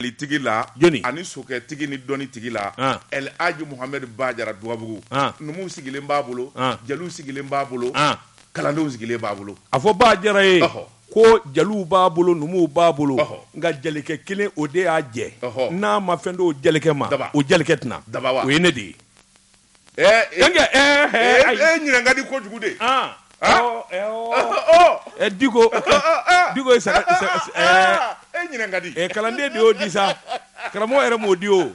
tigi la ani sokɛ tigi ni dɔnni tigi la aliji muhamɛdi ba jara duwabugu numu sigilen b'a bolo jeliw sigilen b'a bolo kalandenw sigilen b'a bolo a fɔ ba jara ye ko jeliw b'a bolo numuw b'a bolo nka jelikɛ kelen o de y'a jɛ n'a ma fɛn di o jelikɛ ma o jelikɛ tɛna daba o ye ne de ye Eh, eh. Denkɛ, eh, eh, Eh, ayi. eh, ɲinan ka di kojugu dɛ. Ah, Ah. ɔ, ɛ, ɔ. Ɔ, Eh, Diko, ɔ, ɔ. Diko ye saga- sa- sa- eh. Ah, eh, ɲinɛ ka di. eh, kalanden de y'o di sa. Karamɔgɔ yɛrɛ m'o di o.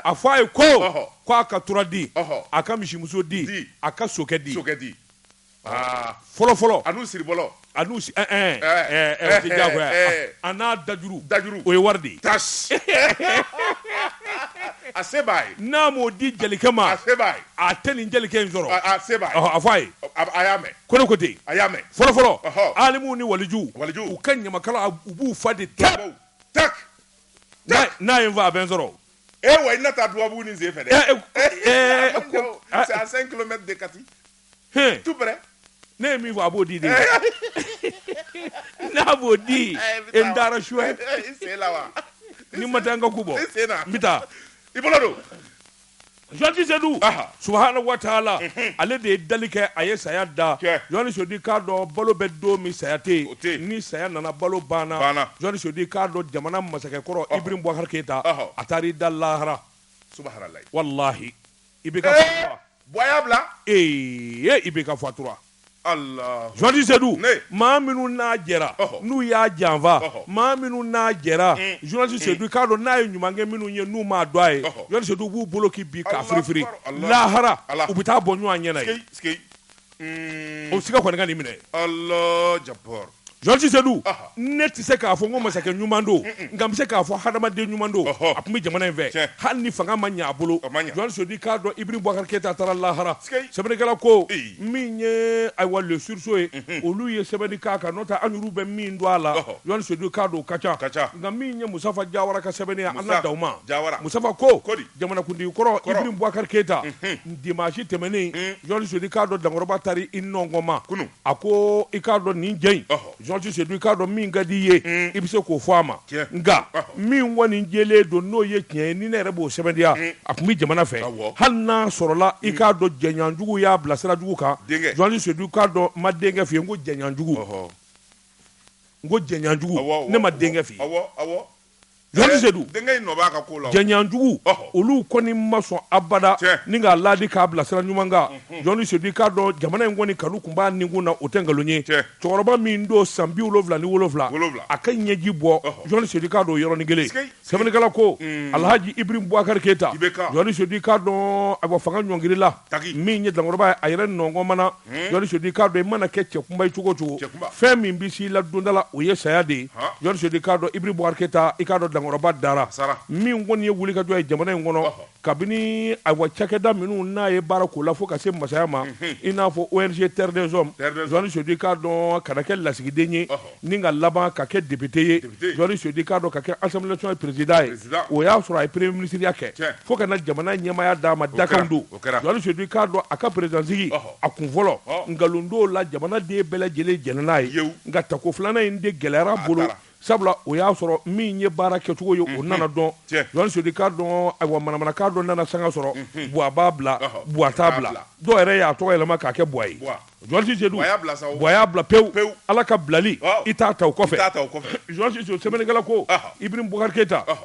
A fɔ a ye ko, Ɔhɔ. ko a ka tura di, Ɔhɔ. a ka misimuso di, Di. a ka sokɛ di. Sokɛ di. fɔlɔfɔlɔ ani siri a n'a dajuru dajuru o ye wari de ye a se b'a ye n'a m'o di jelikɛ ma a se b'a ye a tɛ nin jelikɛ in sɔrɔ a se b'a ye a fɔ a ye a y'a mɛn ko ne ko ten a y'a mɛn fɔlɔfɔlɔ alimuw ni walijuw u ka ɲamakala u b'u fa de ta ta n'a ye n fa a bɛ n sɔrɔ wa i na taa duwabugu ni sen fɛ dɛ c'est à cinq km de kati ne ye min fɔ a b'o di de n'a b'o di e n taara su ni n ma taa n ka ku bɔ n bɛ taa i bolo don Jɔnti Sedu subahaana wataala ale de ye dali kɛ a ye saya da Jɔnti Sedu k'a dɔn balo bɛ don min saya tɛ yen ni saya nana balo banna Jɔnti Sedu k'a dɔn jamana masakɛkɔrɔ Ibrahim Boubacar Keita a taar'i da lahara walahi IBK fatura bɔ a y'a bila ee IBK fatura jɔnti sedu maa minnu n'a jɛra n'u y'a janfa maa minnu n'a jɛra jɔnti sedu k'a dɔn n'a ye ɲuman kɛ minnu ye n'u m'a dɔn a ye jɔnti sedu b'u bolo k'i bin ka firifiri lahara u bɛ taa bɔ ɲɔgɔn ɲɛna o siga kɔni ka nin minɛ jɔnti sedu ne tɛ se k'a fɔ ko masakɛ ɲuman don nka n bɛ se k'a fɔ hadamaden ɲuman don a tun bɛ jamana in fɛ hali ni fanga ma ɲɛ a bolo jɔnti sedu k'a dɔn IBK taara lahara sɛbɛnnikɛla ko min ye ayiwa le sursaut ye olu ye sɛbɛnni k'a kan n'o tɛ an yɛrɛw bɛ min dɔn a la jɔnti sedu k'a dɔn o ka ca nka min ye musitafa jawara ka sɛbɛnni ye an na dan o ma musitafa ko jamanakuntigi kɔrɔ keyita Dimanche tɛmɛnen in Jɔnti Sedu i k'a dɔn Dankɔrɔba taara i nɔngɔnma kunun a ko i k'a dɔn nin jɛ in ɔhɔ Jɔnti Sedu i k'a dɔn min ka di i ye uun i be se k'o fɔ a ma tiɲɛ nka ɔhɔ min kɔni jɛlen don n'o ye tiɲɛ ye ni ne yɛrɛ b'o sɛbɛntiya uun a tun be jamana fɛ awɔ hali n'a sɔrɔla i k'a dɔn jɛɲɔgɔnjugu y'a bila sira jugu kan denkɛ Jɔnti Sedu i k'a dɔn n ma denkɛ f'i ye n ko jɛɲɔgɔnjugu ɔhɔ n ko jɛɲɔgɔnjugu awɔ awɔ ne ma denkɛ f'i ye awɔ awɔ jɛɲɔgɔnjugu olu kɔni ma sɔn abada ni k'a laadi k'a bila sira ɲuman kan Joanti Seydou k'a dɔn jamana in kɔni kanu tun b'a nikun na o tɛ nkalon ye cɛkɔrɔba min don san bi wolonwula ni wolonwula a ka ɲɛji bɔ Joanti Seydou k'a dɔn yɔrɔnin kelen sɛbɛnnikɛla ko Alhaji Ibrahim Boubacar Keita Joanti Seydou k'a dɔn a fanga ɲɔngirila min ye dankɔrɔba ye a yɛrɛ nɔnkɔn mana Seydou k'a dɔn i mana kɛ cɛkunba ye cogo o cogo fɛn min bɛ s'i la don dɔ la o ye saya de ye Joanti Seydou k'a dɔn Ibrahim Boubacar Keita i k'a dɔn dankɔrɔba dara min kɔni ye wulikajɔ ye jamana in kɔnɔ kabini ayiwa cakɛda minnu n'a ye baara k'o la fo ka se masaya ma i n'a fɔ ONG Terre des Hommes Joanti Seydou k'a dɔn ka na kɛ lasigiden ye Ni ka laban ka kɛ député ye Joanti Seydou k'a dɔn ka kɛ Assemblée nationale président ye o y'a sɔrɔ a ye premier ministre kɛ fo ka na jamana ɲɛmaya d'a ma dakan don Joanti Seydou k'a dɔn a ka président sigi a kun fɔlɔ nkalon don la jamanaden bɛɛ lajɛlen jɛnna n'a ye nka tako filanan in de gɛlɛyara a bolo sabula o y'a sɔrɔ min ye baara kɛcogo ye o nana dɔn Joanti Seydou k'a dɔn ayiwa manamanakan dɔ nana sanga sɔrɔ buwa b'a bila buwa t'a bila dɔw yɛrɛ y'a tɔgɔ yɛlɛma k'a kɛ buwa ye Joanti Seydou buwa y'a bila pewu Pewu. ala ka bilali Ɔhɔ. i t'a ta o kɔfɛ. Joanti Seydou sɛbɛnnikɛla ko Ɔhɔ. Ibrahim Boubacar Keita Ɔhɔ.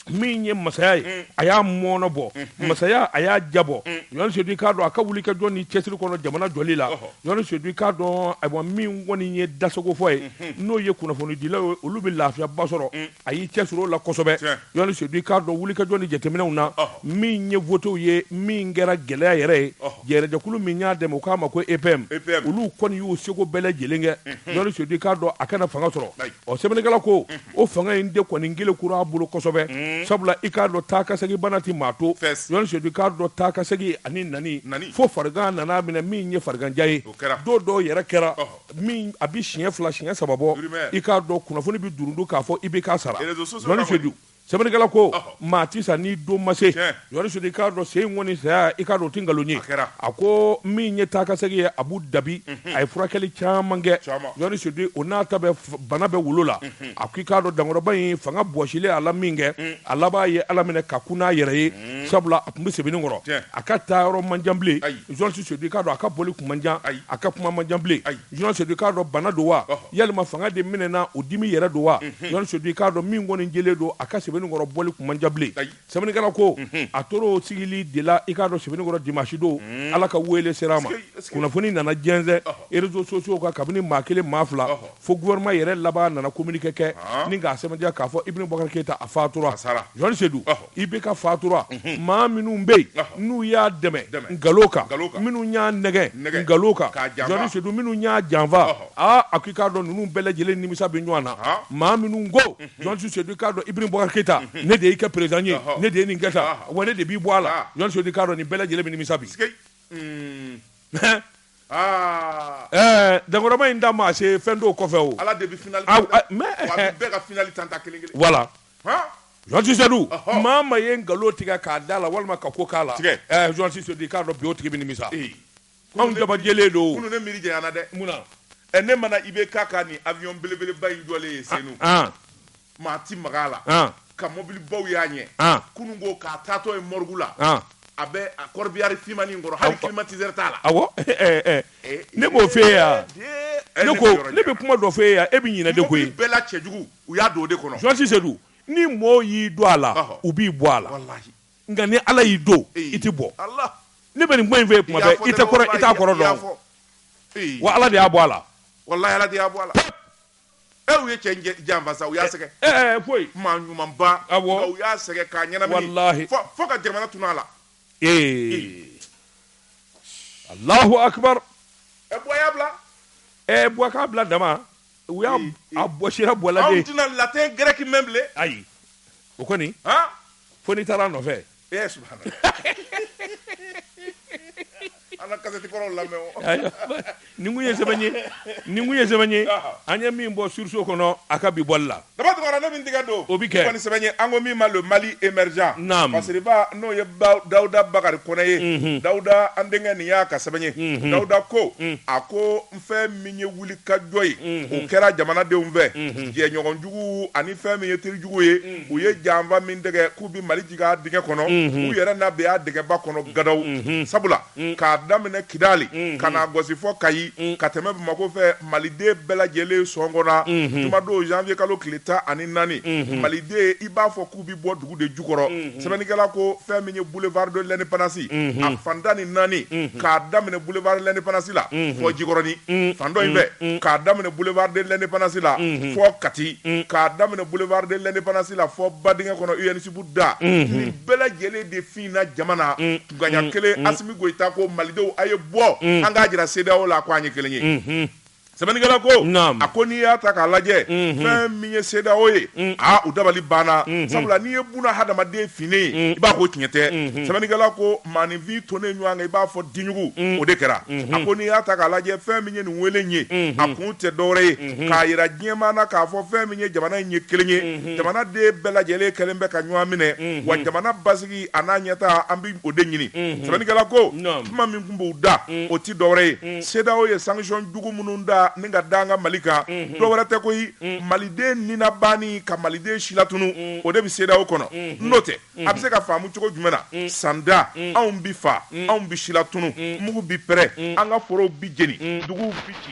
min ye masaya ye a y'a mɔnɔ bɔ masaya a y'a jabɔ Joanti Seydou i k'a dɔn a ka wulikajɔ ni cɛsiri kɔnɔ jamana jɔli la Ɔhɔ. Joanti Seydou i k'a dɔn ayiwa min kɔni ye dasagofɔ ye n'o ye kunnafonidilaw ye olu bɛ lafiyaba sɔrɔ a y'i cɛsiri o la kosɛbɛ Joanti Seydou k'a dɔn wulikajɔ ni jateminɛw na min ye votew ye min kɛra gɛlɛya yɛrɛ ye jɛrɛjɛkulu min y'a dɛmɛ u k'a ma ko EPM olu kɔni y'u seko bɛɛ lajɛlen kɛ Joanti Seydou k'a dɔn a ka na fanga sɔrɔ ɔ sɛbɛnnikɛla ko o fanga in de kɔni gele kura a bolo kosɛbɛ sabula i k'a dɔn taa ka segin bana tɛ maa to Joanti Seydou k'a dɔn taa ka segin ani nani fo farigan nan'a minɛ min ye fariganjan ye don dɔw yɛrɛ kɛra min a bɛ siɲɛ fila siɲɛ saba bɔ i k'a dɔn kunnafoni bɛ durundu k'a fɔ IBK sara Joanti Seydou sɛbɛnnikɛla ko maa tɛ sa ni don ma se Joanti Seydou i k'a dɔn se kɔni saya i k'a dɔn o tɛ nkalon ye a ko min ye taa ka segin ye Abu Dabi a ye furakɛli caman kɛ Joanti Seydou o n'a ta bɛɛ bana bɛ wolo la a ko i k'a dɔn dankɔrɔba in fanga bɔsilen a la min kɛ a laban ye ala minɛ ka kun n'a yɛrɛ ye sabula a tun bɛ Sebenikɔrɔ a ka taayɔrɔ man jan bilen Joanti Seydou k'a dɔn a ka bɔli kun man jan a ka kuma man jan bilen Joanti Seydou k'a dɔn bana don wa walima fanga de minɛna o dimi yɛrɛ don wa Joanti Seydou k'a dɔn min kɔni jɛlen don a ka Sebenikɔrɔ bɔli kun man jan bilen sɛbɛnnikɛla ko a tora o sigili de la i k'a dɔn Sebenikɔrɔ dimanche don ala ka weele sera a ma kunnafoni nana jɛnsɛn réseaux sociaux kan kabini maa kelen maa fila Fo gouvernement yɛrɛ laban nana communiqué kɛ ni k'a sɛbɛntiya k'a fɔ Ibn Boubacar Keita a fatura, a sara, Jɔni Sedu, ɔhɔ, IBK fatura, unhun, maa minnu bɛ yen n'u y'a dɛmɛ nkalo kan, nkalo kan, minnu y'a nɛgɛn, nɛgɛn, nkalo kan, k'a janfa, Jɔni Sedu, minnu y'a janfa, ɔhɔ, aa a ko i k'a dɔn ninnu bɛɛ lajɛlen nimisa bɛ ɲɔgɔn na, haa, maa minnu ko, unhun, Jɔni Sedu i k'a dɔn Ibn Boubacar Keita, unhun, ne de y'i kɛ président ye, ɔhɔ, ne de ye nin kɛ tan, ɔhɔ, wa ne de b'i bɔ a la, haa, Jɔni Sedu i k'a dɔn nin bɛɛ lajɛlen bɛ nimisa bi, sikei. Dankɔrɔba in da ma se fɛn dɔw kɔfɛ o voilà Jɔni Sedu maa min ye nkalon tigɛ k'a da la walima ka ko k'a la Jɔni Sedu i k'a dɔn bi o tigi bɛ nimisa anw dabajalen don mi dɛ ne mana IBK ka nin avion belebeleba in jɔlen ye Senu maa tɛ maga a la, an, ka mɔbilibaw y'a ɲɛ, an, kunun ko k'a taatɔ ye morgue la, an, a bɛ a corbillard fimanni in kɔrɔ hali climatiseur t'a la, awɔ, ɛ ɛ ɛ, ee, ne b'o f'e ye yan, ee, ne ko ne bɛ kuma dɔ f'e ye yan e bɛ ɲinɛ de koyi, mɔbili bɛɛ la cɛjugu u y'a don o de kɔnɔ, Jɔni Sedu ni mɔɔw y'i don a la, ɔhɔ, u b'i bɔ a la, walahi, nka ni Ala y'i don i tɛ bɔ, Ala, ne bɛ nin kuma in f'e ye tuma bɛɛ i tɛ kɔrɔ i t'a kɔrɔ dɔn, wa Ala de y'a bɔ a la, walahi Ala de y'a bɔ a la, pɛp E u ye cɛ in jɛ- janfa sa u y'a sɛgɛ Ɛ ɛ ɛ, koyi maa ɲumanba Awɔ. nka u y'a sɛgɛ k'a ɲɛnamini Walahi. fo fo ka jamana tunun a la ee alahu akibaru ɛ Buwa k'a bila ɛ Buwa k'a bila dama u y'a Ee, ee. a bɔsira Buwa la de anw tɛna latin grec mɛn bilen ayi o kɔni han fo n'i taara a nɔfɛ ee subhanallah an ka kasɛti kɔrɔw lamɛn o Ayiwa, ni kun ye sɛbɛn ye ni kun ye sɛbɛn ye Aha. an ye min bɔ surso kɔnɔ a ka bi bɔli la daba tɔgɔra ne min tigɛ don O bi kɛ. kɔni sɛbɛn ye an ko min ma le Mali émergent Naam. masiriba n'o ye Ba- dawuda bakari kɔnɛ ye dawuda an denkɛ nin y'a ka sɛbɛn ye dawuda ko a ko fɛn min ye wulikajɔ ye o kɛra jamanadenw fɛ jɛɲɔgɔnjugu ani fɛn min ye terijugu ye u ye janfa min dɛgɛ k'u bɛ mali jigin dingɛ kɔnɔ u yɛrɛ na bin a dingɛba kɔnɔ gadaw sabula k'a daminɛ kidali ka na Gawo fɔ Kayi ka tɛmɛ Bamako fɛ maliden bɛɛ lajɛlen sɔngɔna jumadon zanwiye kalo tile tan ani naani maliden i b'a fɔ u bɛ bɔ dugu de jukɔrɔ sɛbɛnnikɛla ko fɛn min ye boulevard de l'indépendance a fan tan ni naani k'a daminɛ boulevard de l'indépendance la fɔ Jikɔrɔni fan dɔ in fɛ k'a daminɛ boulevard de l'indépendance la fɔ Kati k'a daminɛ boulevard de l'indépendance la fɔ Badingɛ kɔnɔ ENSUP da nin bɛɛ lajɛlen de finna jama na kunkanɲɛ kelen Asimi Goyita ko Malidenw a' ye bɔ an k'a jira CEDEAO la ko an ye kelen ye. sɛbɛnnikɛla ko Naam. a ko n'i y'a ta k'a lajɛ fɛn min ye CEDEAO ye aa u dabali banna sabula n'i ye buna hadamaden finnen ye i b'a ko tiɲɛ tɛ sɛbɛnnikɛla ko maaninfin tonnen ɲɔgɔn kan i b'a fɔ diɲugu o de kɛra a ko n'i y'a ta k'a lajɛ fɛn min ye nin wele in ye a kun tɛ dɔwɛrɛ ye k'a yira diɲɛmaa na k'a fɔ fɛn min ye jamana in ye kelen ye jamana den bɛɛ lajɛlen kɛlen bɛ ka ɲɔgɔn minɛ wa jamana basigi hakili a n'a ɲɛtaa an bɛ o de ɲini sɛbɛnnikɛla ko kuma min tun b'u da o tɛ dɔwɛrɛ ye CEDEAO ye sansɔn jugu minnu da ni ka da an ka mali kan dɔwɛrɛ tɛ ko maliden ni na ban ni ka maliden silatunu o de bɛ CEDEAO kɔnɔ n'o tɛ a bɛ se ka faamu cogo jumɛn na sanda anw bɛ faa anw bɛ silatunu mugu bɛ pɛrɛn an ka foro bi jeni dugu bɛ ci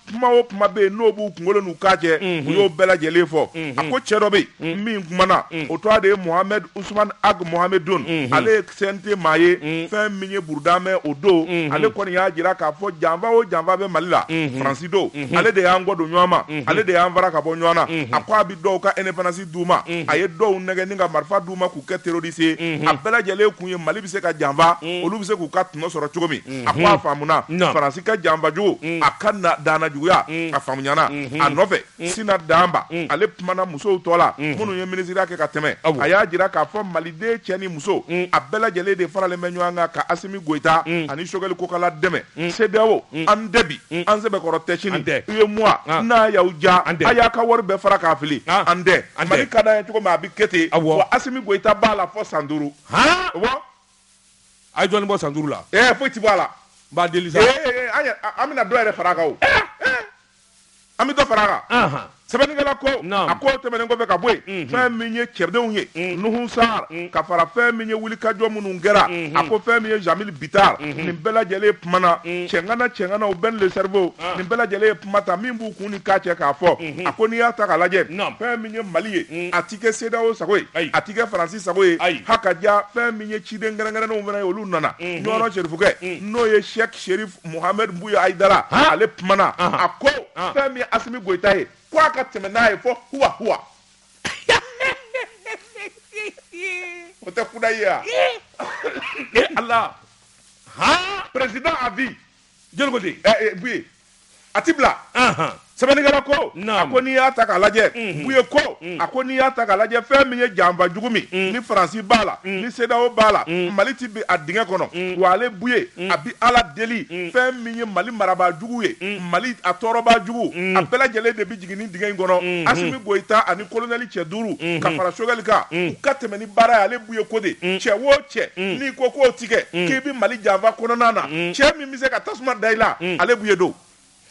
kuma o kuma bɛ yen n'o b'u kunkolo n'u k'a cɛ mhm. u y'o bɛɛ lajɛlen fɔ mhm. a ko cɛ dɔ bɛ yen mhm. min kumana o tɔgɔ de ye mohamɛd usman ag mohamedun ale ye CNT maa ye fɛn min ye burudamɛ o don ale kɔni y'a jira k'a fɔ janfa o janfa bɛ mali la faransi don ale de y'an kɔ don ɲɔgɔn ma ale de y'an fara ka bɔ ɲɔgɔn na a ko a bɛ dɔw ka indépendance d'u ma a ye dɔw nɛgɛn ni ka marifa d'u ma k'u kɛ terorisi ye a bɛɛ lajɛlen kun ye mali bɛ se ka janfa olu bɛ se k'u ka tɔnɔ sɔrɔ cogo min a ko a faamuna Naamu. faransi ka janfa jugu a ka daana juguya a faamuyana a nɔfɛ sina danba ale kumana musow tɔgɔ la minnu ye minisiriya kɛ ka tɛmɛ Awo. a y'a jira k'a fɔ maliden cɛ ni muso a bɛɛ lajɛlen de faralen bɛ ɲɔgɔn kan ka asimi goyita ani sogɛli kokala dɛmɛ sedeyawo an tɛ bi an sɛbɛkɔrɔ tɛ sini An tɛ. UEMOA Ah. n'a y'aw diya An tɛ. a y'a ka wari bɛɛ fara k'a fili Ah. an tɛ An tɛ. mali ka d'an ye cogo min a bɛ kɛ ten Awo. wa asimi goyita b'a la fɔ san duuru Han? Wa? a ye dɔɔnin bɔ san duuru la ɛɛ foyi ti bɔ a la n b'a deli sa an bɛna dɔ yɛrɛ fara a kan an bɛ dɔ fara a kan sɛbɛnnikɛla ko a ko tɛmɛnen kɔfɛ ka bɔ yen fɛn min ye cɛdenw ye nuhu sar ka fara fɛn min ye wulikajɔ minnu kɛra a ko fɛn min ye jamil bitar nin bɛɛ lajɛlen kumana cɛŋana cɛŋanaw bɛn le cerveau nin bɛɛ lajɛlen ye kuma ta min b'u kun ni k'a cɛ k'a fɔ a ko n'i y'a ta k'a lajɛ fɛn min ye mali ye a ti kɛ CEDEAO sago ye a ti kɛ faransi sago ye ha ka ja fɛn min ye ciden kɛrɛnkɛrɛnnenw fana ye olu nana ɲɔrɔ serifukɛ n'o ye sɛki serifu muhamɛdi buye ayidara ale kumana a ko fɛn min asimi goyita ye k'a ka tɛmɛ n'a ye fɔ kuwa o tɛ kuda ye yan e ala président à vie jeli bu a tɛ bila sɛbɛnnikɛla ko a ko n'i y'a ta k'a lajɛ buye ko a ko n'i y'a ta k'a lajɛ fɛn min ye janfa jugu min ni faransi b'a la ni CEDEAO b'a la mali tɛ bin a dingɛ kɔnɔ wa ale buye a bɛ ala deli fɛn min ye mali marabaa jugu ye mali a tɔɔrɔbaa jugu a bɛɛ lajɛlen de bɛ jigin nin dingɛ in kɔnɔ asimi goyita ani kolonɛli cɛ duuru ka fara sogɛli kan u ka tɛmɛ ni baara ye ale buye ko de cɛ wo cɛ n'i ko k'o tɛ kɛ k'i bɛ mali janfa kɔnɔn na cɛ bɛ se ka tasuma da i la mm. ale buye don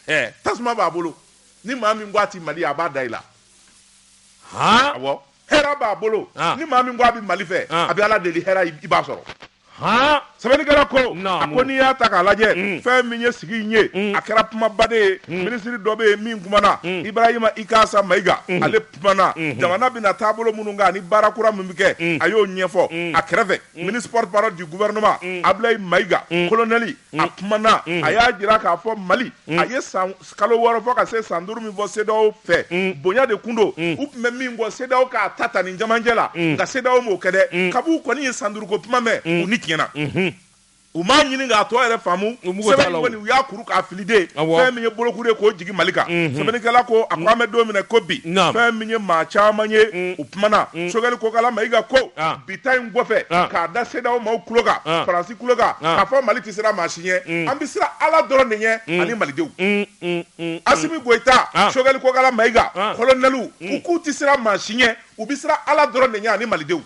eh, tasuma b'a bolo ni maa min ko a ti mali a b'a da i la awɔ hɛrɛ b'a bolo ah. ni maa min ko a bɛ mali fɛ ah. a bɛ ala deli hɛrɛ i b'a sɔrɔ sɛbɛnnikɛla ko a ko n'i y'a ta k'a lajɛ mm. fɛn min ye sigi in ye mm. a kɛra kumabaden ye mm. minisiri dɔ bɛ yen min kumana ibarahima ikasa mayiga ale kumana mm-hmm. jamana bɛna taabolo minnu kan ani baara kura min bɛ kɛ a y'o ɲɛfɔ a kɛrɛfɛ ministre porte-parole du gouvernement ablayi mayiga kolonɛli a kumana a y'a jira k'a fɔ mali a ye san kalo wɔɔrɔ fɔ ka se san duuru min fɔ CEDEAO fɛ bonya de tun don u tun bɛ min fɔ CEDEAO k'a ta ta nin jamajɛ la nka CEDEAO m'o kɛ dɛ kab'u kɔni ye san duuru ko kuma mɛn u ni tiɲɛna u m'a ɲini k'a tɔ yɛrɛ faamu sɛbɛn u y'a kuru k'a fili de fɛn min ye bolokuru ye k'o jigi mali kan sɛbɛnnikɛla ko a ko an bɛ don min na i ko bi fɛn min ye maa caman ye u kumana sogɛli kokala mayiga ko bi ta in kɔfɛ k'a da CEDEAO maaw tulo kan faransi tulo kan k'a fɔ mali tɛ siran maa si ɲɛ an bɛ siran ala dɔrɔn de ɲɛ ani malidenw asimi goyita sogɛli kokala mayiga kolonɛli u k'u tɛ siran maa si ɲɛ u bɛ siran ala dɔrɔn de ɲɛ ani malidenw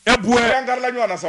e buye an karila ɲɔgɔn na sa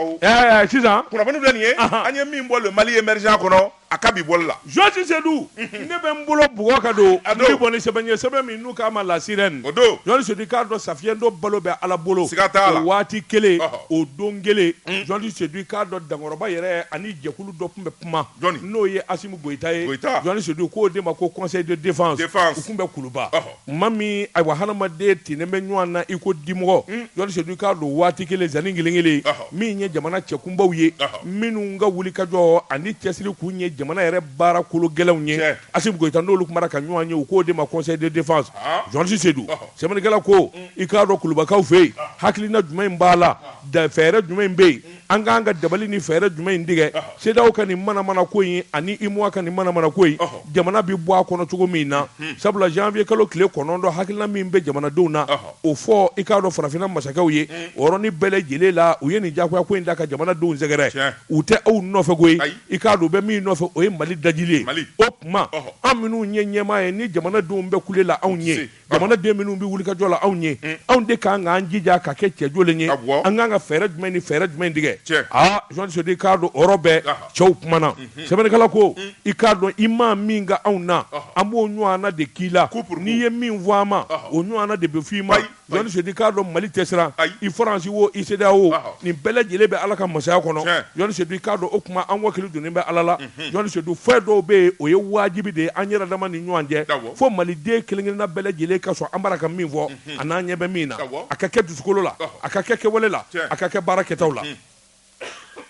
sisan kunnafoni filɛ nin ye an ye min bɔ le mali émergent kɔnɔ a ka bi bɔli la jɔsi sedu ne bɛ n bolo bugɔ ka don n bɛ bɔ ni sɛbɛn ye sɛbɛn min n'u k'a ma la sirène o don jɔnni sedu i k'a dɔn sa fiyentɔ balo bɛ ala bolo siga t'a la o waati kelen o don kelen jɔndi sedu i k'a dɔn dankɔrɔba yɛrɛ ani jɛkulu dɔ tun bɛ kuma n'o ye asimi goyita ye jɔnni sedu u k'o de ma ko conseil de défense u tun bɛ kuluba maa min ayiwa hadamaden tinen bɛ ɲɔgɔn na iko dimɔgɔ jɔnsi sedu i k'a dɔn waati kelen zan kelen kelen min ye jamana cɛkunbaw ye minnu ka wulikajɔ ani cɛsiri kun ye jamana yɛrɛ baara kolo gɛlɛnw ye asimi goyita n'olu kumana ka ɲɔgɔn ye u k'o de ma conseil de défense jɔnsi sedu sɛbɛnnikɛla ko i k'a dɔn kulubakaw fɛ yen hakilina jumɛn in b'a la da fɛɛrɛ jumɛn in bɛ yen an k'an ka dabali ni fɛɛrɛ jumɛn in tigɛ CEDEAO ka nin manamana ko in ani UEMOA ka nin manamana ko in jamana bɛ bɔ a kɔnɔ cogo min na sabula janvier kalo tile kɔnɔntɔn hakilina min bɛ jamanadenw na o fɔ i k'a dɔn farafinna masakɛw ye o yɔrɔnin bɛɛ lajɛlen la u ye nin diyagoya ko in da ka jamanadenw sɛgɛrɛ u tɛ aw nɔfɛ koyi i k'a dɔn u bɛ min nɔfɛ o ye mali dajili ye o tuma an minnu ye ɲɛmaa ye ni jamanadenw bɛ kule la anw ye jamanaden minnu bɛ wulikajɔ la anw ye mm. anw de k'an k'an jija ka kɛ cɛjɔlen ye an k'an ka fɛɛrɛ jumɛn ni fɛɛrɛ jumɛn tigɛ aa jɔnsi sedu i k'a dɔn o yɔrɔ bɛɛ cɛw kumana mm-hmm. sɛbɛnnikɛla ko mm. i k'a dɔn i maa min kɛ anw na an b'o ɲɔgɔnna de k'i la n'i ye min fɔ an ma o ɲɔgɔnna de bɛ fɔ i ma jɔnsi sedu i k'a dɔn mali tɛ siran i faransi wo i CEDEAO nin bɛɛ lajɛlen bɛ ala ka masaya kɔnɔ jɔnsi sedu i k'a dɔn o tuma an wakili donnen bɛ ala la mm. jɔn sedu fɛn dɔw bɛ yen o ye wajibi de ye an yɛrɛ dama ni ɲɔgɔn cɛ fo maliden kelenkelenna bɛɛ lajɛlen ka sɔn an bara ka min fɔ a n'an ɲɛ bɛ min na a ka kɛ dusukolo la a ka kɛ kɛwale la a ka kɛ baara kɛtaw la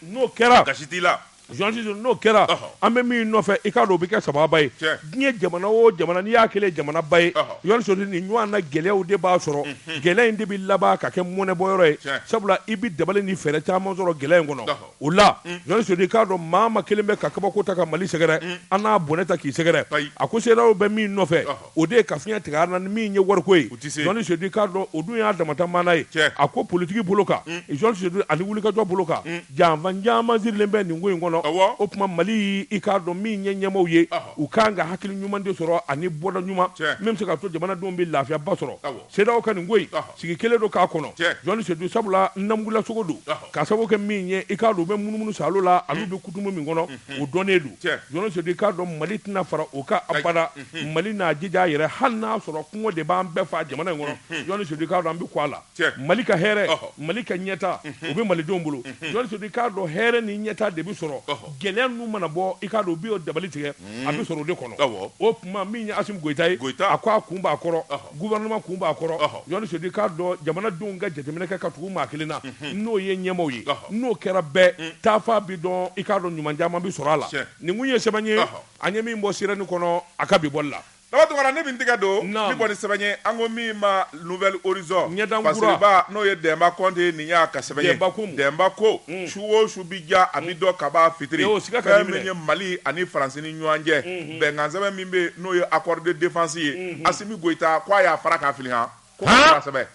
n'o kɛra gasi t'a la n'o kɛra an bɛ min nɔfɛ i k'a dɔn o bɛ kɛ sababa ye diɲɛ jamana o jamana n'i y'a kɛlen jamanaba ye jɔn sedu nin ɲɔgɔnna gɛlɛyaw de b'a sɔrɔ gɛlɛya in de bɛ laban ka kɛ mɔnɛbɔ yɔrɔ ye sabula i bɛ dabali ni fɛɛrɛ caman sɔrɔ gɛlɛya in kɔnɔ o la jɔn sedu k'a dɔn maa ma kelen bɛ ka kabako ta ka mali sɛgɛrɛ an n'a bɔnɛ ta k'i sɛgɛrɛ a ko CEDEAO bɛ min nɔfɛ o de ye ka fiɲɛ tigɛ an na ni min ye wariko ye jɔn sedu k'a dɔn o dun y'a damata maana ye a ko politiki bolo kan jɔn sedu ani wulikajɔ bolo kan janfan caman sirilen bɛ nin ko in kɔnɔ o tuma mali i k'a dɔn min ye ɲɛmaaw ye u kan ka hakili ɲuman de sɔrɔ ani bɔda ɲuman min bɛ se k'a to jamanadenw bɛ lafiyaba sɔrɔ CEDEAO ka nin ko in sigi kɛlen don k'a kɔnɔ jɔn sedu sabula namugula sogo don ka sababu kɛ min ye i k'a dɔn u bɛ munumunu sa la olu bɛ kutumu min kɔnɔ o dɔnnen don jɔn sedu i k'a dɔn mali tɛna fara o ka abada mali n'a jija a yɛrɛ hali n'a sɔrɔ kɔngɔ de b'an bɛɛ faa jamana in kɔnɔ jɔn sedu k'a dɔn an bɛ ko a la mali ka hɛrɛ mali ka ɲɛta o bɛ malidenw bolo jɔn sedu k'a dɔn hɛrɛ ni ɲɛta de bɛ sɔrɔ gɛlɛya ninnu mana bɔ i k'a dɔn u bɛ dabali tigɛ a bɛ sɔrɔ o de kɔnɔ o tuma min ye asimi goyita ye a ko a kun b'a kɔrɔ gouvernement kun b'a kɔrɔ, ɔhɔ, Jɔn Sedu k'a dɔn jamanadenw ka jateminɛ kɛ ka tugu maa kelen na, unhun, n'o ye ɲɛmaaw ye, ɔhɔ, n'o kɛra bɛɛ, un, taafan bɛ dɔn, i k'a dɔn ɲuman caman bɛ sɔrɔ a la, tiɲɛ, nin tun ye sɛbɛn ye, ɔhɔ, an ye min bɔ Sirène kɔnɔ a ka bi bɔli la. Daba Tunkara, ne bɛ n tɛgɛ don, naamu, min bɔ ni sɛbɛn ye, an ko min ma Nouvel Horizon ɲɛdan kura, fasiriba n'o ye Dɛnba Kɔnte ye, nin y'a ka sɛbɛn ye, Dɛnba ko mun? Dɛnba ko, un, su o su bɛ diya a bɛ dɔn kab'a fitiri, ee o siga kan'i minɛ, fɛn min ye Mali ani France ni ɲɔgɔn cɛ, unhun. bɛnkansɛbɛn min bɛ n'o ye accord de défense ye mhm. Asimi Goyita ko a y'a fara k'a fili han ko k'a sɛbɛn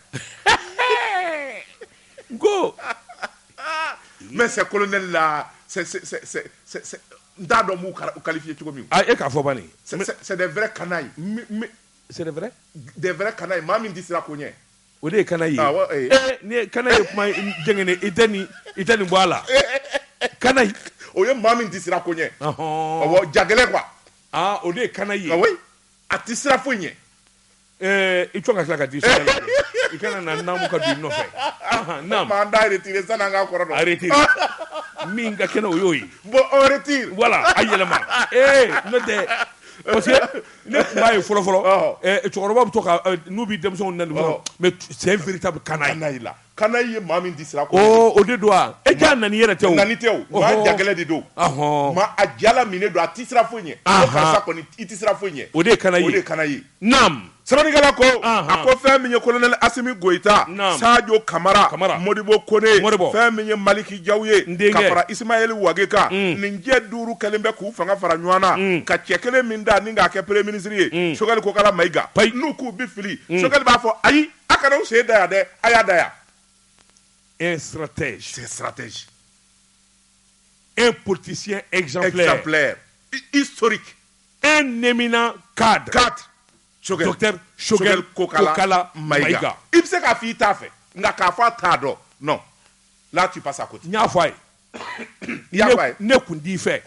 n ko mais ces colonels là c'est c'est c'est c'est n t'a dɔn n b'u qualifier cogo min na, e k'a fɔ bani c'est des vrais canailles c'est des vrais des vrais canailles maa min tɛ siran ko ɲɛ O de ye canaille ye canaille ye kuma i tɛ nin bɔ a la canaille o ye maa min tɛ sira ko ɲɛ jagɛlɛn quoi o de ye canaille ye a tɛ sira foyi ɲɛ i ka tila ka di sa i kana na naamu ka di nɔfɛ kɔrɔti min ka kɛnɛ o y'o yeti voilà a yɛlɛma ee n'o tɛ Ne tun b'a ye fɔlɔ fɔlɔ, ɔhɔ, ɛ cɛkɔrɔbaw bɛ to ka n'u bɛ denmisɛnw nɛni dɔrɔn, ɔhɔ, mais c'est un véritable canaille, canaille la, canaille ye maa min tɛ sira ko ɲɛ, oo, o de don wa, e jaa nani yɛrɛ tɛ o, nani tɛ o, ɔhɔ, maa jagɛlɛn de don, ɔhɔ, maa a jala minnen don, a tɛ siran foyi ɲɛ, anhan, ko karisa kɔni i tɛ siran foyi ɲɛ, o de ye canaille ye, o de ye canaille ye, naamu, sɛbɛnnikɛla ko, anhan, a ko fɛn min ye Colonel Asimi Goyita, naamu, Sajo Kamara, Kamara, Modibo Kone, Modibo, fɛn min ye Maliki jaw ye ka fara isimayeli wage kan mm. nin cɛ duuru kɛlen bɛ k'u fanga fara ɲɔgɔn na mm. ka cɛ kelen min da ni k'a kɛ premier ministre ye mm. sogɛli kokala mayiga n'u k'u bi fili sogɛli b'a fɔ ayi a kana u sen da yan dɛ a y'a da yan un stratège c'est stratège un politicien exemplaire exemplaire historique un éminent cadre cadre kokala ma i bɛ se k'a fɔ i t'a fɛ nka k'a fɔ a t'a dɔn lati pa sa ko n y'a fɔ a ye ne kun di i fɛ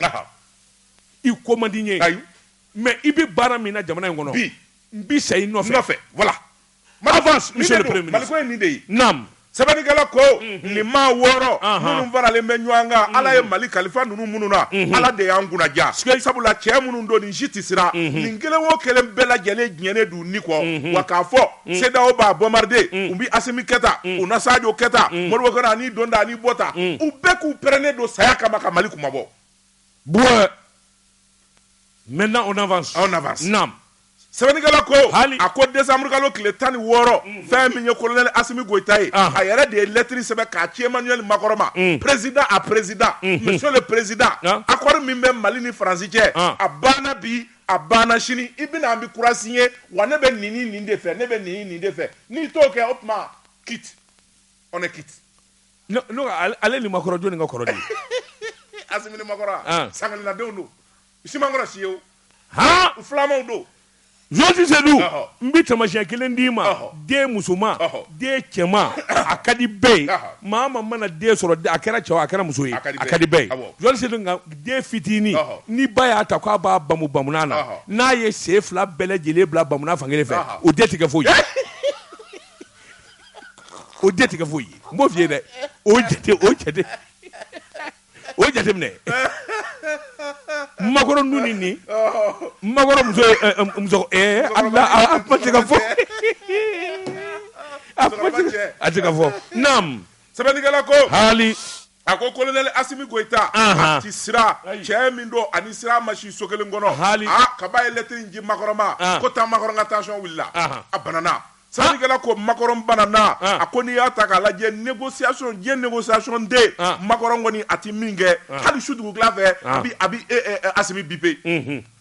i ko man di ye ayi mɛ i bɛ baara min na jamana in kɔnɔ bi n bɛ sa i nɔfɛ fɛ wala mali de ye Sɛbɛnnikɛla ko nin maa wɔɔrɔ minnu faralen bɛ ɲɔgɔn kan ala ye mali kalifa ninnu minnu na ala de y'an kunnaja sabula cɛ minnu don nin si tɛ siran nin kelen o kelen bɛɛ lajɛlen diɲɛnen d'u ni kɔ wa k'a fɔ CEDEAO b'a bombarder u bɛ asimi kɛta u na sajo kɛta modibo kɔnɛ ani donda ani bɔda u bɛɛ k'u pɛrɛnen don saya kama ka mali kunmabɔ maintenant on avance naam sɛbɛnnikɛla ko hali a ko desanburukalo tile tan ni wɔɔrɔ mm. fɛn min ye kolonɛli asimi goyita ye ah. a yɛrɛ de ye lɛtiri sɛbɛn k'a ci emmanuel makɔrɔn ma mm. président à président mm-hmm. monsieur le président ah. accord min bɛ mali ni faransi cɛ ah. a banna bi a banna sini i bɛna an bɛ kura signer wa ne bɛ nin nin de fɛ ne bɛ nin nin de fɛ n'i t'o kɛ o tuma quitte on est quitte Ale ni makɔrɔn jɔn ka kɔrɔ asimi ni makɔrɔn sangadenw don sikɔrɔ si ye filanmaw don jɔnsi sedu n bɛ tamasiyɛn kelen d'i ma den musoman den cɛman a ka di bɛɛ ye maa ma mana den sɔrɔ a kɛra cɛ wa a kɛra muso ye a ka di bɛɛ ye jɔnsi sedu nka den fitinin ni ba y'a ta k'a b'a bamu bamunan na n'a ye sen fila bɛɛ lajɛlen bila bamunan fan kelen fɛ o den tɛ kɛ foyi ye o den tɛ kɛ foyi ye n b'o f'i ye dɛ o jate o jate o jateminɛ makɔrɔn nu ni nin makɔrɔn muso ye ɛ, ɛ, muso ɛɛ a a a- a kuma tɛ ka fɔ a kuma tɛ ka- a tɛ ka fɔ naam sɛbɛnnikɛla ko hali A ko kolonɛli asimi goyita a tɛ siran cɛ min don a ni siran ma si so kelen kɔnɔ hali kab'a ye lɛtiri in ci makɔrɔn ma ko taa makɔrɔn ka tension wulila a banana sɛbɛnnikɛla ko makɔrɔn banana a ko n'i y'a ta k'a lajɛ négociation de négociation de makɔrɔn kɔni a tɛ min kɛ hali su dugutila fɛ a a bɛ asimi biper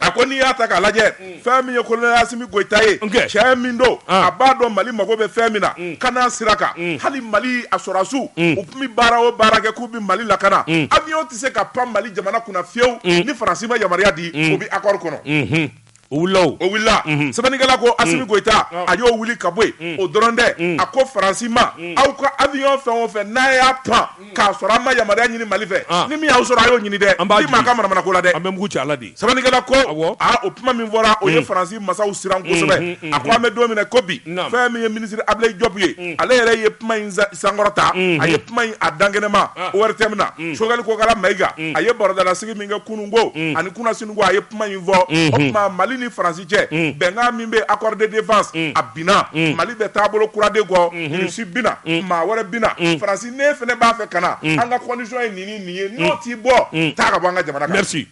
a ko n'i y'a ta k'a lajɛ mm. fɛn min ye kolonɛli asimi goyita ye cɛ min don ah. a b'a dɔn mali mago bɛ fɛn min na mm. ka n'a sira kan mm. hali mali a sɔrɔdasiw u tun bɛ baara o baara kɛ k'u bɛ mali lakana avion tɛ se ka pan mali jamana kunna fewu ni faransi ma yamaruya di o bɛ accord kɔnɔ mm-hmm. o wulila o o wulila mhm. sɛbɛnnikɛla ko asimi mm. goyita ah. a y'o wuli ka bɔ yen mm. o dɔrɔn tɛ mm. a ko faransi ma aw ka avion fɛn o fɛn n'a y'a pan k'a sɔrɔ a ma yamaruya ɲini Mali fɛ, an, ni min y'aw sɔrɔ a y'o ɲini dɛ, an b'a jigin, min m'an ka manamanako la dɛ, an bɛ mugu ci a la de, sɛbɛnnikɛla ko, awɔ, aa o kuma min fɔra o ye mm. Faransi masaw siran mm, kosɛbɛ, mm, mm, a ko an bɛ don min na ko bi, naam, fɛn min ye minisiri Abilayi Jɔpu ye, mm. ale yɛrɛ ye kuma in sankɔrɔta, mm, a ye mm. kuma in a dankɛnɛma ah. ORTM na, mm. Sogɛli Kokala Mayiga, mm. a ye barodalasigi min kɛ kunun ko, mm. ani kunasini ko a ye kuma in fɔ, mm. o tuma Mali ni Faransi cɛ, mm. bɛnkan min bɛ accord de défense, mm. a binna, mm. Mali bɛ taabolo kura de kɔ, mm. Russie bi na, mm. maa wɛrɛ bi na, mm. Faransi ne fana b'a fɛ ka na mm. an ka condition ye nin nin ye mm. n'o t'i bɔ mm. taa ka bɔ an ka jamana merci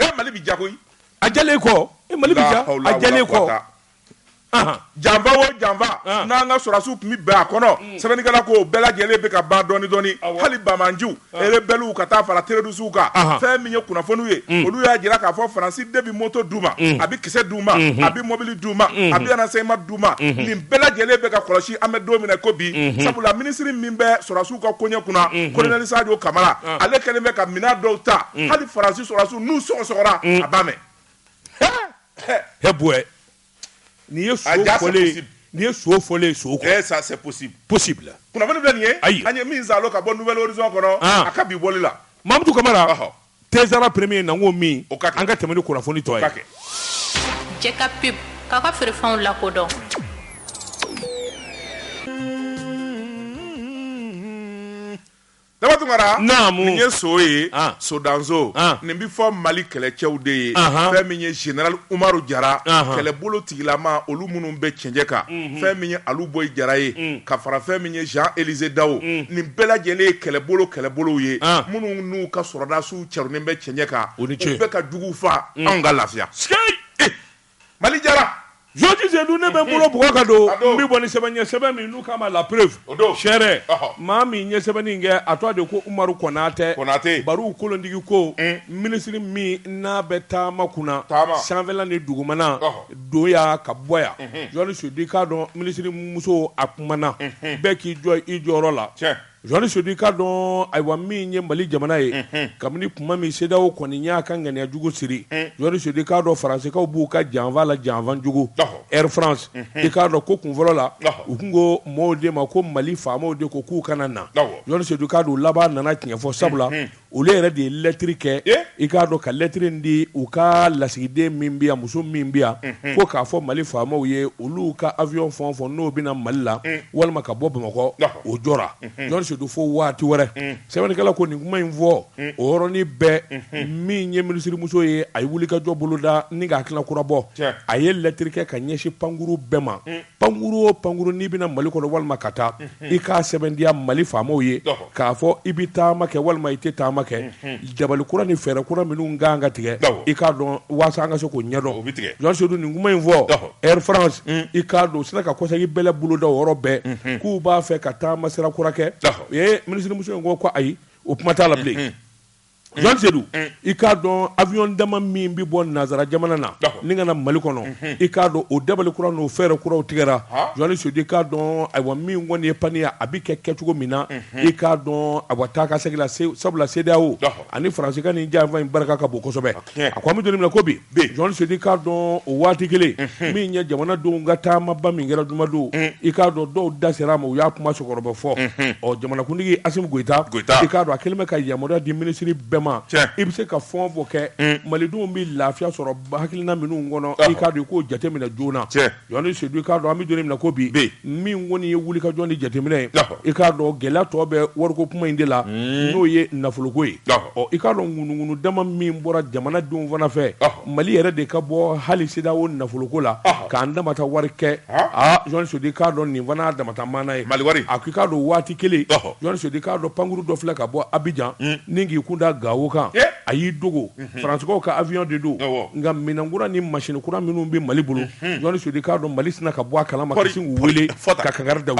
e mali bɛ ja koyi a jalen kɔ e mali bɛ ja a jalen kɔ janfa o janfa n'an ka sɔrɔsiw tun bɛ bɛn a kɔnɔ sɛbɛnnikɛla ko bɛɛ lajɛlen bɛ ka ban dɔɔni dɔɔni hali banbaganciw rebelles ka taa fara terroristes kan, anhan, fɛn min ye kunnafoniw ye, un, olu y'a jira k'a fɔ France de bɛ moto d'u ma, un, a bɛ kisɛ d'u ma, unhun, a bɛ mobili d'u ma, unhun, a bɛ renseignement d'u ma, unhun, nin bɛɛ lajɛlen bɛ ka kɔlɔsi an bɛ don min na ko bi, unhun, sabula ministre min bɛ sɔrɔdasiw ka koɲɛ kunna, unhun, colonel Sadio Camara, ɔn, ale kɛlen bɛ ka minɛn dɔw ta, un, hali France sɔrɔdasiw n'u sɔgɔsɔgɔra, un, a b'a mɛn, he, he, he boɛ N'i ye so fɔlen n'i ye so fɔlen so kɔnɔ, ça c'est possible, possible, kunnafoni filɛ nin ye, ayi, an ye min salo ka bɔ Nouvel Horizon kɔnɔ, an, a ka bi bɔli la, Mamutu Kamara, ɔhɔ, Tezara premier na n k'o min, o ka kɛ, an ka tɛmɛ ni kunnafoni tɔ ye, o ka kɛ. Jɛ ka pub k'aw ka feerefɛnw lakodɔn. Daba Tunkara nin ye so ye sodanso nin bɛ fɔ mali kɛlɛcɛw de ye fɛn min ye général umaru jara kɛlɛbolo tigilama olu minnu bɛ cɛncɛ kan fɛn min ye Alu Boyi jara ye ka fara fɛn min ye Jean-Élisée Dawo nin bɛɛ lajɛlen ye kɛlɛbolo kɛlɛbolow ye minnu n'u ka sɔrɔdasiw cɛrunnen bɛ cɛncɛ kan u bɛ ka jugu faa anw ka lafiya Mali jara Jɔnni Sedu ne bɛ n bolo bugɔ ka don n bɛ bɔ ni sɛbɛn ye sɛbɛn min n'u k'a ma La Preuve o don sɛ maa min ye sɛbɛnni kɛ a tɔgɔ de ko Umaru Konatɛ Konatɛ baro kolontigi ko minisiri min n'a bɛ taama kunna taama sanfɛla ni dugumana don yan ka bɔ yan Jɔnni Sedu i k'a dɔn minisirimuso a kumana bɛɛ k'i jɔ i jɔyɔrɔ la Jɔnni Sedu i k'a dɔn ayiwa min ye mali jamana ye kabini kuma min CEDEAO kɔni y'a ka ŋaniyajugu siri Jɔnni Sedu i k'a dɔn Faransikaw b'u ka janfa la janfa jugu Air France i k'a dɔn ko kun fɔlɔ la u tun ko maaw de ma ko mali faamaw de ko k'u kana na Jɔnni Sedu i k'a dɔn laban nana tiɲɛfɔ sabula olu yɛrɛ de ye lɛtri kɛ i k'a dɔn ka lɛtri di u ka lasigiden min bɛ yan muso min bi yan ko k'a fɔ mali faamaw ye olu ka awiyɔn fɛn o fɛn n'o bɛ na mali la walima ka bɔ bamakɔ o jɔra Jɔnni Sedu fo waati wɛrɛ sɛbɛnnikɛla ko nin kuma in fɔ o yɔrɔnin bɛɛ min ye minisirimuso ye a ye wulikajɔ boloda ni ka hakilina kura bɔ a ye lɛtri kɛ ka ɲɛsin pankurun bɛɛ ma pankuru o pankuru n'i bɛ na mali kɔnɔ walima ka taa i k'a sɛbɛntiya mali faamaw ye k'a fɔ i bɛ taama kɛ walima i tɛ taama kɛ dabali kura ni fɛɛrɛ kura minnu kan ka tigɛ i k'a dɔn waasa an ka se k'o ɲɛdɔn jɔni sedu nin kuma in fɔ Air France i k'a dɔn u sina ka kɔsegin bɛlɛ boloda o yɔrɔ bɛɛ k'u b'a fɛ ka taama sira kura kɛ u ye minisirimuso in ko ko ayi o kuma t'a la bilen Sedu i k'a dɔn awiyɔn dama min bɛ bɔ nansara jamana na ni ka na mali kɔnɔ i k'a dɔn o dabali kura n'o fɛɛrɛ kuraw tigɛra jɔni sedu i k'a dɔn ayiwa min kɔni ye paniya a bɛ kɛ kɛcogo min na i k'a dɔn ayiwa taa ka segin la sabula CEDEAO ani faransi ka nin janfa in barika ka bon kosɛbɛ a ko an bɛ don min na ko bi jɔni sedu i k'a dɔn o waati kelen min ye jamanadenw ka taamaba min kɛra jumadon i k'a dɔn dɔw da sera a ma u y'a kuma sɔgɔrɔ bɛɛ fɔ ɔ jamanakuntigi Asimi Goyita i k'a dɔn a kɛlen bɛ ka yamaruya di minisiri bɛɛ ma i bɛ se ka fɛn o fɛn kɛ malidenw bɛ lafiya sɔrɔ hakilina minnu kɔnɔ i k'a dɔn i k'o jateminɛ joona Jɔni sedu i k'a dɔn an bɛ don min na ko bi min kɔni ye wulikajɔ ni jateminɛ ye i k'a dɔn gɛlɛya tɔ bɛ wariko kuma in de la n'o ye nafoloko ye ɔ i k'a dɔn ŋunuŋunu dama min bɔra jamana denw fana fɛ mali yɛrɛ de ka bɔ hali CEDEAO nafoloko la k'an dama ta wari kɛ aa jɔni sedu i k'a dɔn nin fana y'a dama ta maana ye a ko i k'a dɔn waati kelen jɔni sedu i k'a dɔn pankuru dɔ filɛ ka bɔ abijan ni k'i kunda gawo kan a y'i dogo faransikaw ka awiyɔn de don nka minɛnkura ni masin kura minnu bɛ mali bolo jɔni sedu i k'a dɔn mali sina ka bɔ a kalama k'u weele ka kangari da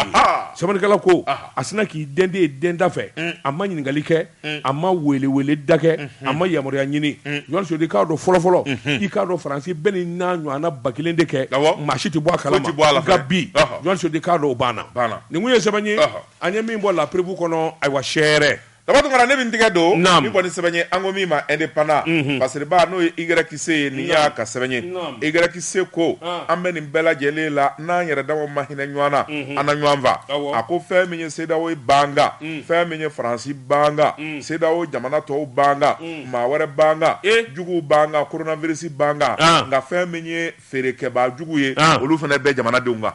sɛbɛnnikɛla ko a sina k'i dɛndɛ dɛndɛ da fɛ a ma ɲininkali kɛ a ma weeleweeleda kɛ a ma yamaruya ɲini jɔni sedu i k'a dɔn fɔlɔfɔlɔ i k'a dɔn faransi bɛ nin n'a ɲɔgɔnna ba kelen de kɛ maa si tɛ bɔ a kalama nka bi jɔni sedu i k'a dɔn o banna nin kun ye sɛbɛn ye an ye min bɔ La Preuve kɔnɔ ayiwa sɛ Daba Tunkara ne min tigɛ don nin kɔni sɛbɛn ye an ko min ma Indépendant parcesiriba n'o ye YC ye nin y'a ka sɛbɛn ye YC ko an bɛ nin bɛɛ lajɛlen la n'an yɛrɛ dama ma hinɛ ɲɔgɔn na an na ɲɔgɔn faa a ko fɛn min ye CEDEAO ye b'an kan fɛn min ye faransi b'an kan CEDEAO jamana tɔw b'an kan maa wɛrɛ b'an kan jugu b'an kan coronavirus b'an kan nka fɛn min ye feerekɛbaa jugu ye olu fana bɛ jamanadenw kan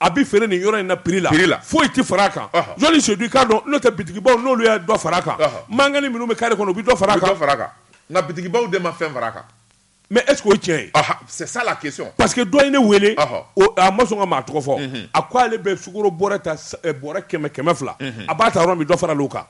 a bɛ feere nin yɔrɔ in na prix la, prix la, foyi tɛ fara a kan, ɔhɔ, jɔni sedu i k'a dɔn n'o tɛ bitikibaw n'olu ye dɔ fara a kan, ɔhɔ, mangani minnu bɛ carré kɔnɔ u bɛ dɔ fara a kan, u bɛ dɔ fara a kan, nka bitikibaw de ma fɛn fara a kan, mais est ce que o ye tiɲɛ ye? Ɔhɔ, c'est ça la question, parce que dɔ ye ne wele, ɔhɔ, o a ma sɔn ka maa tɔgɔ fɔ, unhun, a ko ale bɛ sukoro bɔrɛ ta bɔrɛ kɛmɛ kɛmɛ fila, unhun, a b'a ta yɔrɔ min dɔ faral'o kan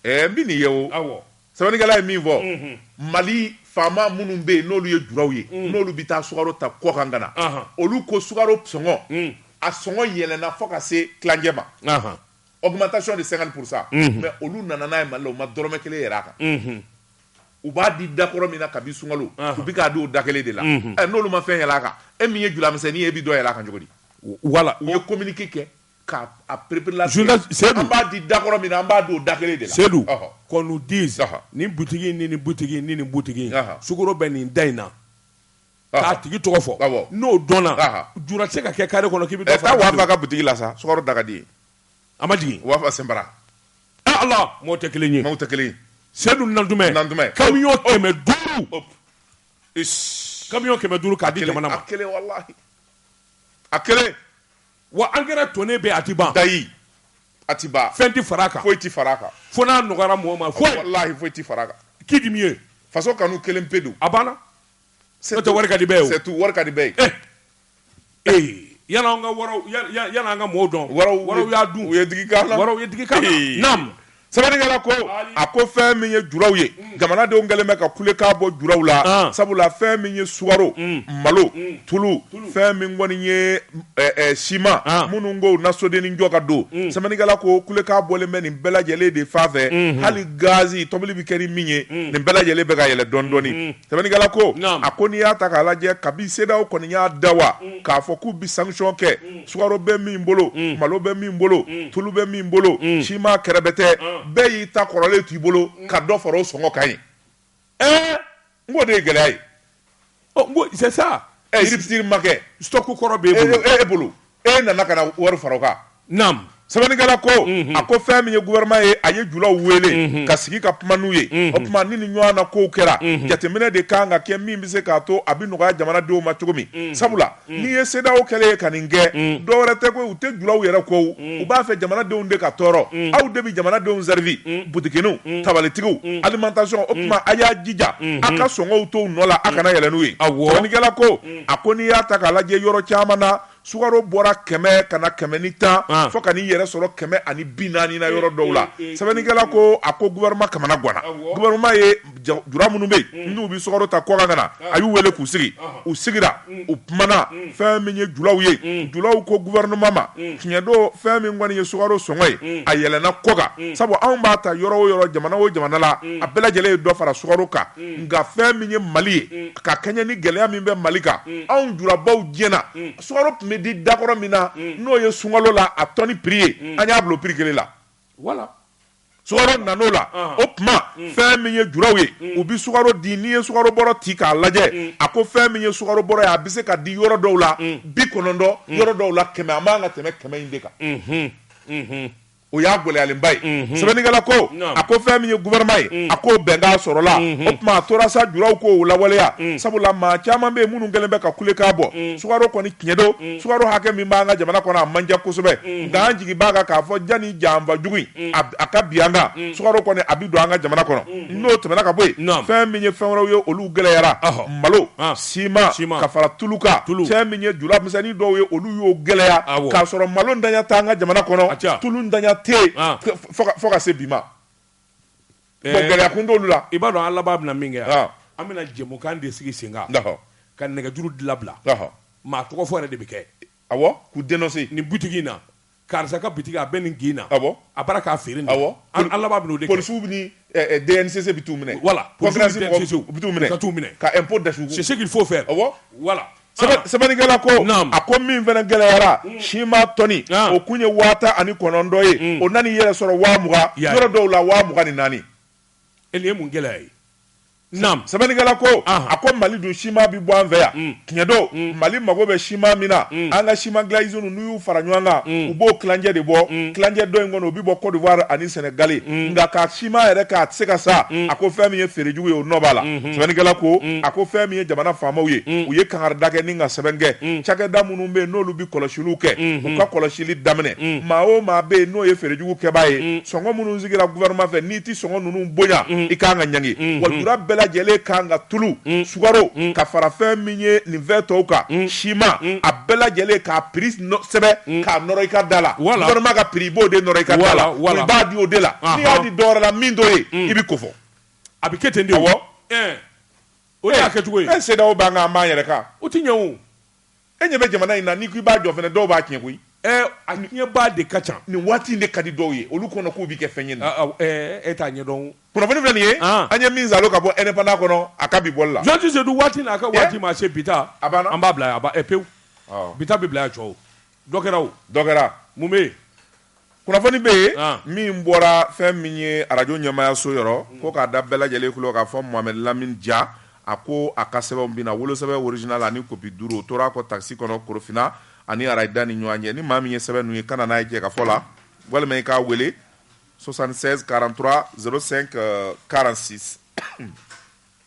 ɛɛ n bɛ nin ye o awɔ sɛbɛnnikɛla ye min fɔ mhm. mali faama minnu bɛ yen n'olu ye juraw ye mhm. n'olu bɛ taa sukaro ta kɔkan ka na olu ko sukaro sɔngɔ mhm. a sɔngɔ yɛlɛnna fo ka se tilancɛ ma augmentation de 50 pour cent mais olu nana n'a ye mali la u ma dɔrɔmɛ kelen yɛlɛ a kan u b'a di dakɔrɔ min na kabi sunkalo u bɛ k'a di o da kelen de la n'olu ma fɛn yɛlɛ a kan e min ye juramisɛnnin ye e bɛ dɔ yɛlɛ a kan cogo di voilà u ye communiqué kɛ K'a préparer an b'a di dakɔrɔ min na an b'a di o da kelen de la Seydou qu'on nous dise nin butigi ni nin butigi ni nin butigi sukaro bɛ nin da in na k'a tigi tɔgɔ fɔ n'o dɔnna jura tɛ se ka kɛ carré kɔnɔ k'i bɛ dɔ fara taa wafa ka butigi la sa sukaro da ka di ye a ma jigin wafa sen mɔgɔ tɛ kelen ye tɛ kelen Seydou Nantoumé camion kɛmɛ duuru k'a di jamana ma a kelen Wa engrais tonne bɛ a tɛ ban dayi a tɛ ban fɛn tɛ fara a kan foyi tɛ fara a kan fo n'a nɔgɔyara mɔgɔ ma walahi foyi tɛ fara a kan qui dit mieux faso kanu kelen pe don a banna n'o tɛ wari ka di bɛɛ ye c'est tout wari ka di bɛɛ ye eh ee yan an ka waraw yan an ka mɔgɔw dɔn waraw y'a dun u ye digi k'a la waraw ye digi k'a la naam sɛbɛnnikɛla ko a ko fɛn min ye juraw ye mm. jamanadenw kɛlen bɛ ka kulekan bɔ juraw la ah. sabula fɛn min ye sukaro mm. malo mm. tulu fɛn min kɔni ye siman ah. minnu k'u na sodennin jɔ ka don sɛbɛnnikɛla ko kulekan bɔlen bɛ nin bɛɛ lajɛlen de fan fɛ mm-hmm. hali gazi tobili bɛ kɛ ni min ye nin bɛɛ lajɛlen bɛ ka yɛlɛ dɔɔni dɔɔni mm-hmm. sɛbɛnnikɛla ko a ko n'i y'a ta k'a lajɛ kabi CEDEAO kɔni y'a da wa k'a fɔ k'u bi sanction kɛ sukaro bɛ min bolo mm. malo bɛ min bolo mm. tulu bɛ min bolo mm. siman kɛrɛbɛtɛ ah. bɛɛ y'i ta kɔrɔlen t'i bolo ka dɔ fara o sɔngɔ kan ye ɛɛ n k'o de ye gɛlɛya ye n ko c'est ça rupture ma kɛ stock kɔrɔ b'e bolo e nana ka na wari fara o kan naam Sɛbɛnnikɛla ko, unhun, a ko fɛn min ye gouvernement ye, a ye julaw wele, unhun, ka sigi ka kuma n'u ye, unhun, o tuma ni nin ɲɔgɔn na kow kɛra, unhun, jateminɛ de ka kan ka kɛ min bɛ se k'a to a bɛ nɔgɔya jamanadenw ma cogo min, unhun, sabula n'i ye CEDEAO kɛlen ye ka nin kɛ, unhun, dɔ wɛrɛ tɛ koyi u tɛ julaw yɛrɛ kɔ wo, unhun, u b'a fɛ jamanadenw de ka tɔɔrɔ, unhun, aw de bɛ jamanadenw servir, unhun, butikiniw, unhun, tabalitigiw, unhun, alimentation, o tuma a y'a jija, unhun, a ka sɔngɔw to u nɔ la, a kana yɛlɛ n'u ye, awɔ, sɛbɛnnikɛla ko, unhun, a ko n'i y'a ta k'a lajɛ yɔrɔ caman na sukaro bɔra kɛmɛ ka na kɛmɛ ni tan ah. fo ka n'i yɛrɛ sɔrɔ kɛmɛ ani bi naani na yɔrɔ dɔw la eh, eh, eh, sɛbɛnnikɛla ko a ko gouvernement kamana ganna gouvernement ye jura minnu bɛ yen hmm. n'u bɛ sukaro ta kɔkan ka na ah. a y'u wele k'u sigi ah. u sigira hmm. u kumana hmm. fɛn min ye julaw ye julaw ko gouvernement ma tiɲɛ don fɛn min kɔni ye sukaro sɔngɔ ye a yɛlɛnna kɔkan sabu anw b'a ta yɔrɔ o yɔrɔ jamana o jamana la a bɛɛ lajɛlen ye dɔ fara sukaro kan nka fɛn min ye mali ye ka kɛɲɛ ni gɛlɛya min bɛ mali kan anw jurabaw diɲɛna sukaro tun bɛ di dakɔrɔ min na n'o ye sunkalo la a tɔni piri ye an y'a bila o piri kelen la voilà sukaro nana o la o tuma fɛn min ye juraw ye u bɛ sukaro di n'i ye sukaro bɔrɔ ci k'a lajɛ a ko fɛn min ye sukaro bɔrɔ ye a bɛ se ka di yɔrɔ dɔw la bi kɔnɔntɔn yɔrɔ dɔw la kɛmɛ a man ka tɛmɛ kɛmɛ in de kan o y'a gɛlɛyalenba ye mhm. sɛbɛnnikɛla ko a ko fɛn min ye gouvernement ye mhm. a k'o bɛnkan sɔrɔla mhm. o tuma a tora sa juraw k'o lawaleya sabula maa caman bɛ yen minnu kɛlen bɛ ka kulekan bɔ sukaro kɔni tiɲɛ don sukaro hakɛ min b'an ka jamana kɔnɔ a man ca kosɛbɛ nka an jigi b'a kan k'a fɔ janni janfa jugu in a ka bi an kan sukaro kɔni a bɛ don an ka jamana kɔnɔ n'o tɛmɛna ka bɔ yen fɛn min ye fɛn wɛrɛw ye olu gɛlɛyara malo ciment, ciment. ka fara tulu kan tulu. fɛn min ye jula misɛnnin dɔw ye olu y'o gɛlɛya k'a sɔrɔ malo ntanya t'an ka jamana kɔnɔ tulu ntanya tɛ yen ah. fo ka se bi ma eh. bon gɛlɛya kun t'olu la i b'a dɔn an laban bɛna min kɛ yan ah. an bɛna jɛmukan de sigi sen kan ka nɛgɛjuru de labila maa tɔgɔ fɔ yɛrɛ de bɛ kɛ awɔ k'u dénoncer nin butigi in na karisa ka boutique a bɛ nin kin na, awɔ, a b'a la k'a feere nin, awɔ, an an laban bɛn'o de kɛ, polisiw bɛ ni ɛ DNCC bɛ t'u minɛ, voilà, concurrence mɔgɔw u bɛ t'u minɛ, u ka t'u minɛ, ka impôt dasu, c'est ce qu'il faut faire, awɔ, voilà, sɛbɛnnikɛla ko, naamu, a ko min fana gɛlɛyara ciment tɔni o kun ye waa tan ani kɔnɔntɔn ye, o nana i yɛrɛ sɔrɔ waa mugan, yɔrɔ dɔw la waa mugan ni naani, nin ye mun gɛlɛya ye sɛbɛnnikɛla ko a ko mali dun sima bɛ bɔ an fɛ yan mm. tiɲɛ don mm. mali mago bɛ sima min na mm. an ka sima dilan usines n'u y'u fara ɲɔgɔn kan u b'o tilancɛ de bɔ tilancɛ dɔ in kɔnɔ o bɛ bɔ côte d'ivoire ani sénégal nka ka sima yɛrɛ k'a tɛ se ka sa a ko fɛn min ye feerejugu ye o nɔ b'a la mm-hmm. sɛbɛnnikɛla ko a ko fɛn min ye jamana faamaw ye u ye kangarida kɛ ni ka sɛbɛn kɛ cakɛda minnu bɛ yen n'olu bɛ kɔlɔsiliw kɛ mm-hmm. u ka kɔlɔsili daminɛ maa o maa bɛ yen n'o ye feerejugu kɛbaa ye sɔngɔ minnu sigira gouvernement fɛ n'i tɛ sɔngɔ ninnu bonya i ka kan ka ɲangi wa jura bɛɛ lajɛlen ka kan ka tulu sukaro ka fara fɛn min ye nin fɛn tɔw kan sima a bɛɛ lajɛlen k'a prix sɛbɛn k'a nɔrɔ i ka da la gouvernement ka prix i b'o de nɔrɔ i ka da la wa i b'a di o de la n'i y'a di dɔwɛrɛ la min t'o ye i bɛ kofɔ a bɛ kɛ ten de o de y'a kɛcogo ye CEDEAO b'an kan an b'an yɛrɛ kan o tɛ ɲɛ o. E ɲɛ bɛ jamana in na n'i ko i b'a jɔ fana dɔw b'a tiɲɛ koyi. Ɛɛ a tiɲɛbaa de ka ca. Nin waati in de ka di dɔw ye olu kɔnɔ k'u bɛ kɛ fɛn ye nin ye. Aa ɛɛ e t'a ɲɛdɔn o. Kunnafoni filɛ nin ye, an, an ye min zalo ka bɔ Indépendant kɔnɔ a ka bi bɔli la. Jɔn tɛ se don waati n'a ka waati ma se bi ta, a banna, an b'a bila yan, a ban ɛɛ pewu, ɔ, bi ta bɛ bila yan cɔw, dɔ kɛra o, dɔ kɛra, mun bɛ yen? Kunnafoni bɛ yen min bɔra fɛn min ye arajo ɲɛmaayaso yɔrɔ ko k'a da bɛɛ lajɛlen tulo k'a fɔ Mohamed Lamine Dia a ko a ka sɛbɛnw binna wolosɛbɛn original ani copie duuru o tora kɔ taxi kɔnɔ Korofina ani Arayida ni ɲɔgɔn cɛ ni maa min ye sɛbɛn ninnu ye ka na n'a ye Jɛkafɔ la walima i k'a weele 76 43 05 46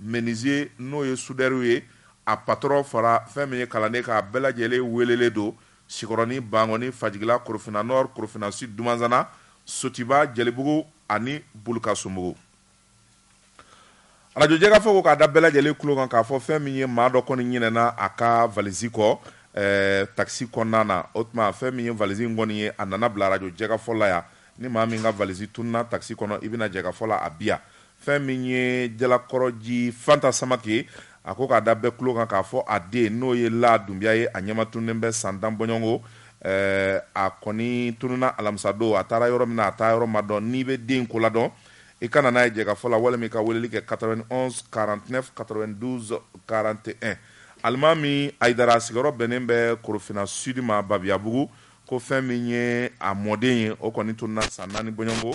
Menuisier n'o ye soudeur ye, a patron fara fɛn min ye kalanden kan, a bɛɛ lajɛlen weelelen don Sikɔrɔni, Bankɔni, Fajigila, Korofina Nord, Korofina Sud, Dumanzana, Sotiba, Jɛlibugu ani Bulukasumugu. Radio Jɛkafɔ ko k'a da bɛɛ lajɛlen tulo kan k'a fɔ fɛn min ye maa dɔ kɔni ɲinɛna a ka valise kɔ taxi kɔnɔna na, o tuma fɛn min ye valise in kɔni ye, a nana bila radio Jɛkafɔ la yan. Ni maa min ka valise tununna taxi kɔnɔ, i bɛ na Jɛkafɔ la a bi yan. Fɛn min ye Jalakɔrɔji Fanta Samake ye, a ko k'a da bɛɛ tulo kan k'a fɔ a den, n'o ye Laa Dunbiya ye, a ɲɛma tununnen bɛ san tan bɔɲɔgɔnko. A kɔni tununna alamisadon, a taara yɔrɔ min na, a taa yɔrɔ ma dɔn. N'i bɛ den ko la dɔn, i ka na n'a ye Jɛkafɔ la walima i ka weleli kɛ 91 49 92 41. Alimami Ayidara sigiyɔrɔ bɛnnen bɛ Korofina Sud ma Babiyabugu, ko fɛn min ye a mɔden ye, o kɔni tununna san naani bɔɲɔgɔnko.